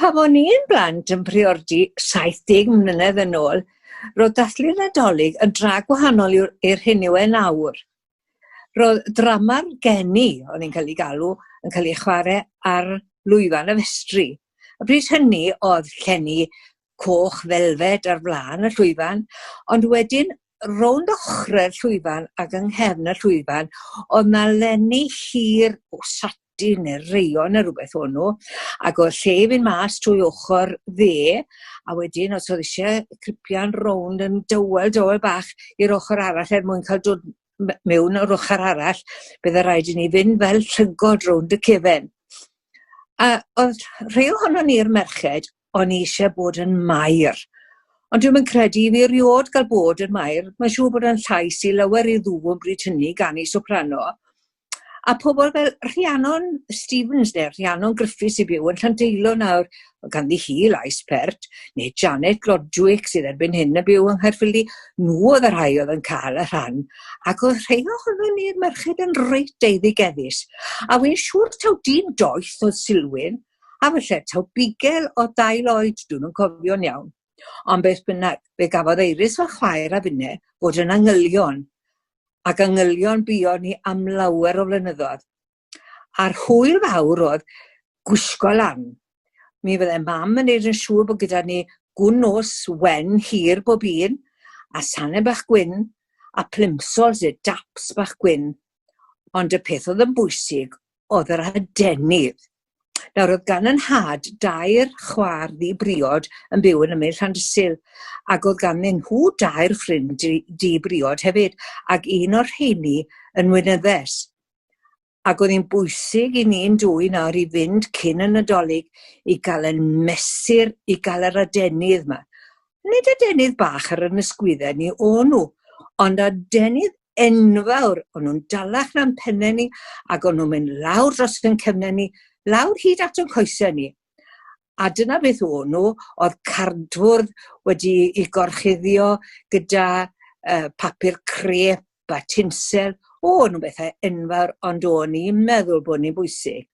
Pan o'n i'n blant yn priordy 70 mlynedd yn ôl, roedd dathlu Nadolig yn dra gwahanol i'r hyn yw e nawr. Roedd drama'r geni, o'n i'n cael ei galw, yn cael ei chwarae ar lwyfan y festri. A bryd hynny oedd llenni coch felfed ar flaen y llwyfan, ond wedyn rownd ochrau'r llwyfan ac yng nghefn y llwyfan, oedd na lenni hir o sati neu reion neu rhywbeth o'n nhw, ac oedd lle i fynd mas trwy ochr dde, a wedyn os oedd eisiau cripian rownd yn dywel, dywel bach i'r ochr arall er mwyn cael dod mewn o'r ochr arall, byddai rhaid i ni fynd fel llygod rownd y cefen. A oedd rhai ohono ni'r merched o'n i eisiau bod yn Mair. Ond dwi'm yn credu i fi erioed gael bod yn Mair. Mae'n siŵr bod yn llais i lawer ei ddŵ yn bryd hynny gan ei soprano. A pobl fel Rhiannon Stevens neu Rhiannon Griffiths i byw yn Llandeilo nawr, ganddi hi lais pert, neu Janet Glodwick sydd erbyn hyn yn byw yng Nghaerffili, nhw oedd y rhai oedd yn cael y rhan, ac oedd rhai ohonon ni'r merched yn reit eiddigeddus. A wy'n siŵr taw dyn doeth oedd Silwyn, a falle taw bugel o dail oed, dwi'm yn cofio'n iawn. Ond beth bynnag, fe gafodd Eiris fy chwaer a finne fod yn angylion, ac angylion buon ni am lawer o flynyddoedd. A'r hwyl fawr oedd gwisgo lan. Mi fydde mam yn neud yn siŵr bod gyda ni gwn nos wen hir bob un, a sanau bach gwyn, a plimsolls neu daps bach gwyn. Ond y peth oedd yn bwysig oedd yr adenydd. Nawr, oedd gan yn nhad dair chwaer ddi-briod yn byw yn ymyl Llandysul, ac oedd ganddyn nhw dair ffrind di-briod hefyd, ac un o'r rheini yn weinyddes. Ac oedd hi'n bwysig i ni'n dwy nawr i fynd cyn y Nadolig i gael ein mesur i gael yr adenydd 'ma. nid adenydd bach ar yn ysgwydde ni o nhw, ond adenydd enfawr, o'n nhw'n dalach na'n penne ni, ac o'n nhw'n mynd lawr dros yn cefnau ni, lawr hyd at yn coesau ni. A dyna beth o'n nhw, oedd cardfwrdd wedi ei gorchuddio gyda uh, papur crep a tinsel, o, nhw'n bethau enfawr, ond o'n i'n meddwl bod ni'n bwysig.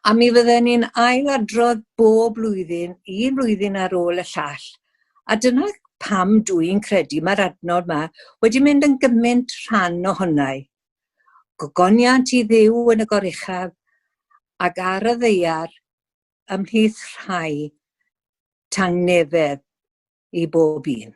A mi fydden ni'n ailadrodd bob blwyddyn, un flwyddyn ar ôl y llall. A dyna pam dw i'n credu mae'r adnod yma wedi mynd yn gymaint rhan ohona i. Gogoniant i Dduw yn y goruchaf ac ar y ddeiar ymhlith rhai tangnefedd i bob un.